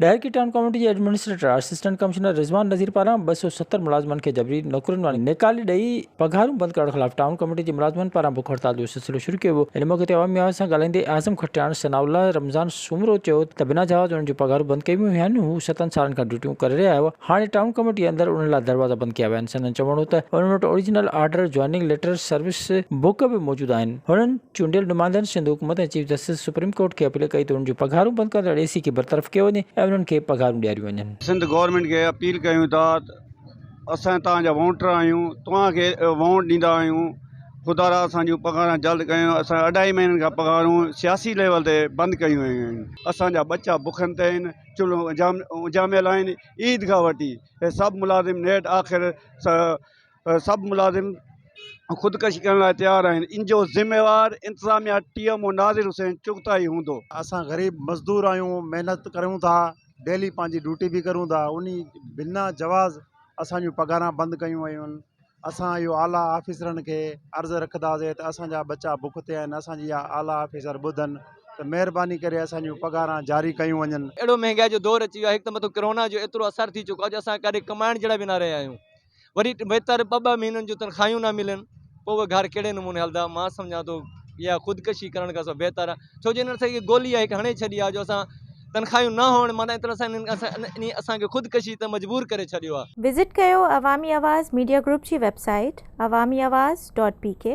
Daharki town committee جي administrator assistant commissioner Rizwan Nazir پاران ٻه سؤ ستر ملازمن کي جبري نوڪرين مان نيڪالي ڏئي پگهارون بند ڪرڻ خلاف ٽائون ڪاميٽي جي ملازمن پاران بک هڙتال جو سلسلو شروع ڪيو ويو ان موقعي تي عوامي آواز سان ڳالهائيندي اعظم کٽياڻ ثناء الله رمضان سومرو چيو ته بنا جواز انهن جون پگهارون بند ڪيون ويون آهن هو ستن سالن کان ڊيوٽيون ڪري رهيا هئا هاڻي ٽائون ڪاميٽي اندر انهن لاء دروازا بند ڪيا ويا آهن سندن چوڻ هو ته انهن وٽ original order joining letter service book به موجود آهن هنن چونڊيل نمائندن سنڌ حڪومت ۽ چيف جسٽس سپريم ڪورٽ کي اپيل ڪئي ته انهن جون پگهارون بند ڪندڙ اي سي کي برطرف ڪيو وڃي ۽ انهن کي پگهارون ڏياريون وڃن. سنڌ گورنمينٽ کي اپيل ڪيون ٿا ته اسان توهان جا وونٽر آهيون توهان کي وونٽ ڏيندا آهيون خدارا اسان جون پگهاران جلد ڪيون اسان اڍائي مهينن کان پگهارون سياسي ليول تي بند ڪيون ويون آهن اسان جا ٻچا بکن تي آهن چلهون اجهاميل آهن عيد کان وٺي هي سڀ ملازم نيٺ آخر سڀ ملازم خودڪشي ڪرڻ لاء تيار آهن ان جو ذميوار انتظاميا ٽي ايم او ناظر حسين چغتائي هوندو. اسان غريب مزدور آهيون محنت ڪريون ٿا ڊيلي پنهنجي ڊيوٽي به ڪريون ٿا انهي بنا جواز اسان جون پگهاران بند ڪيون ويون آهن اسان اهو اعليٰ آفيسرن کي عرض رکداسين ته اسان جا ٻچا بک تي آهن اسان جي اها اعليٰ آفيسر ٻڌن ته مهرباني ڪري اسان جون پگهاران جاري ڪيون وڃن. اهڙو مهنگائي جو دور اچي ويو آهي هڪ ته مٿو ڪرونا جو ايترو اثر ٿي چڪو آهي جو اسان ڪڏهن ڪمائڻ جهڙا به نه رهيا آهيون. وري بهتر ٻه ٻه مهينن جون تنخواهيون نه ملن پوء اهي گهر ڪهڙي نموني هلندا مان سمجهان ٿو اها خودڪشي ڪرڻ کان سواء بهتر آهي ڇو جو هن سڄي گولي اهي هڻي ڇڏي آهي جو اسان تنخواهيون نه هئڻ معنيٰ ان طرح سان انهي اسان کي خودڪشي تي مجبور ڪري ڇڏيو آهي. وزٽ ڪيو عوامي آواز ميڊيا گروپ جي website Awami Awaz dot P ڪي.